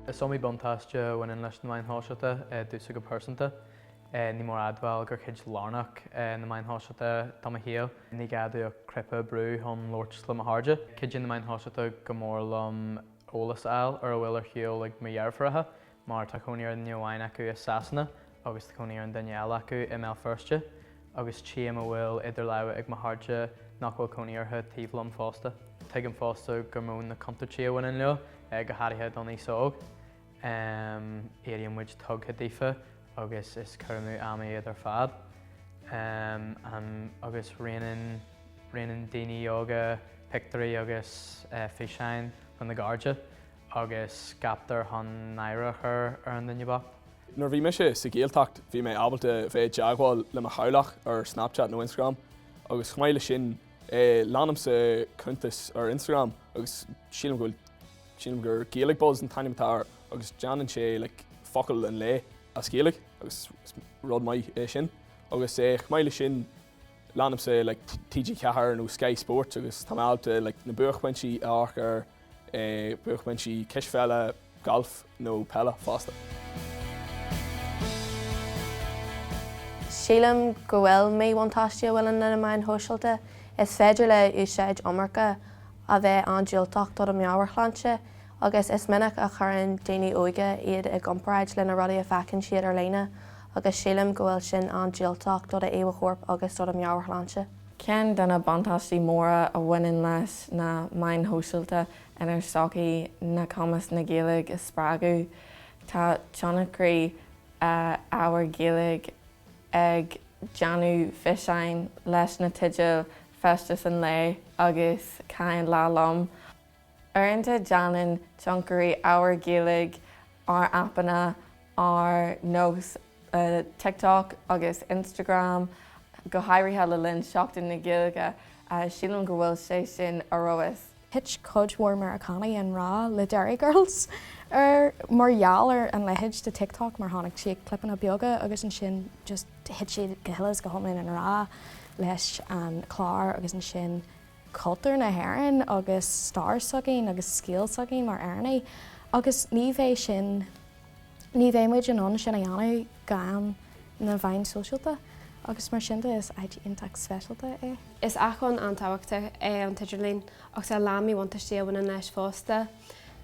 Is iomaí buntáiste a bhaineann leis na meáin shóisialta i dtús go pearsanta. Ní mór a admháil gur cuid lárnach iad na meáin shóisialta de mo shaol. Ní gá dom ach cnaipe a bhrú chun labhairt le mo chairde. Cuidíonn na meáin shóisialta go mór liom eolas a fháil ar a bhfuil ar siúl ag mo dheirfiúracha mar tá cónaí ar dhuine amháin acu i Sasana agus tá cónaí ar an duine eile acu i mBéal Feirste agus tchím a bhfuil idir láimhe ag mo chairde nach bhfuil cónaí orthu taobh liom fosta. Tuigim fosta gur mó na contúirtí a bhaineann leo, go háirithe don aos óg. Um Éiríonn muid tugtha daofa agus is cur amú ama iad ar fad. Um an agus roinneann roinneann daoine óga pictiúirí agus eh físeáin dona gcairde agus ceaptar chun náire a chur ar an nduine bocht. Nuair a bhí mise sa Ghaeltacht bhí mé ábalta bheith i dteagmháil le mo theaghlach ar Snapchat nó Instagram agus chomh maith leis sin eh leanaimse cuntas ar Instagram agus sílim go bhfuil Sílim gur Gaeilge Buzz an t-ainm atá air agus déanann sé like focal an lae as Gaeilge agus is rud maith é sin agus eh chomh maith leis sin leanaimse like TG4 nó Sky Sports agus tá mé ábalta like na buaicphointí a amharc ar eh buaicphointí cispheile, galf nó peile fosta. Sílim go bhfuil míbhuntáistí a bhfuil ann na meáin shóisialta, is féidir le úsáid iomarca a bheith an-diúltach do do mheabhairshláinte agus is minic a chuireann daoine óga iad i gcomparáid leis na rudaí a fheiceann siad ar líne agus sílim go bhfuil sin an-diúltach do do íomhá choirp agus do do mheabhairshláinte. Ceann de na buntáistí móra a bhaineann leis na meáin shóisialta inár sochaí ná cumas na Gaeilge a spreagadh. Tá tionchairí ábhair Gaeilge ag déanamh físeáin leis na teidil feisteas an lae agus caith an lá liom. Uaireanta déanann tionchairí ábhar Gaeilge ar aipeanna ar nós TikTok agus Instagram, go háirithe le linn Seachtain na Gaeilge, sílim go bhfuil sé sin ar fheabhas. Thit cuid mhór Meiriceánaigh i ngrá le Derry Girls ar mar gheall ar an leithéid de TikTok mar chonaic siad clipeanna beaga agus ansin just thit siad go huile is go hiomlán i ngrá leis an chlár agus ansin cultúr na hÉireann agus stair s'againn agus scéal s'againn mar Éireannaigh agus ní bheidh sin ní bheidh muid in ann sin a dhéanamh gan na meáin shóisialta agus mar sin de is áit iontach speisialta é. Is acmhainn an-tábhachtach é an t-idirlíon ach tá a lán míbhuntaistí a bhaineann leis fosta.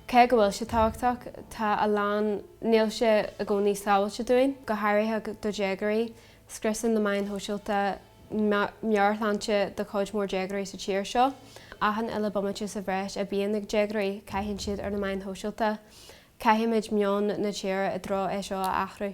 Cé go bhfuil sé tábhachtach, tá a lán, níl sé i gcónaí sábháilte dúinn, go háirithe do dhéagóirí. Scriosann na meáin shóisialta meabhairshláinte do chuid mhór déagóirí sa tír seo. Achan uile bomaite sa bhreis a bhíonn ag déagóirí caitheann siad ar na meáin shóisialta. Caithfimid meon na tíre i dtreo é seo a athrú.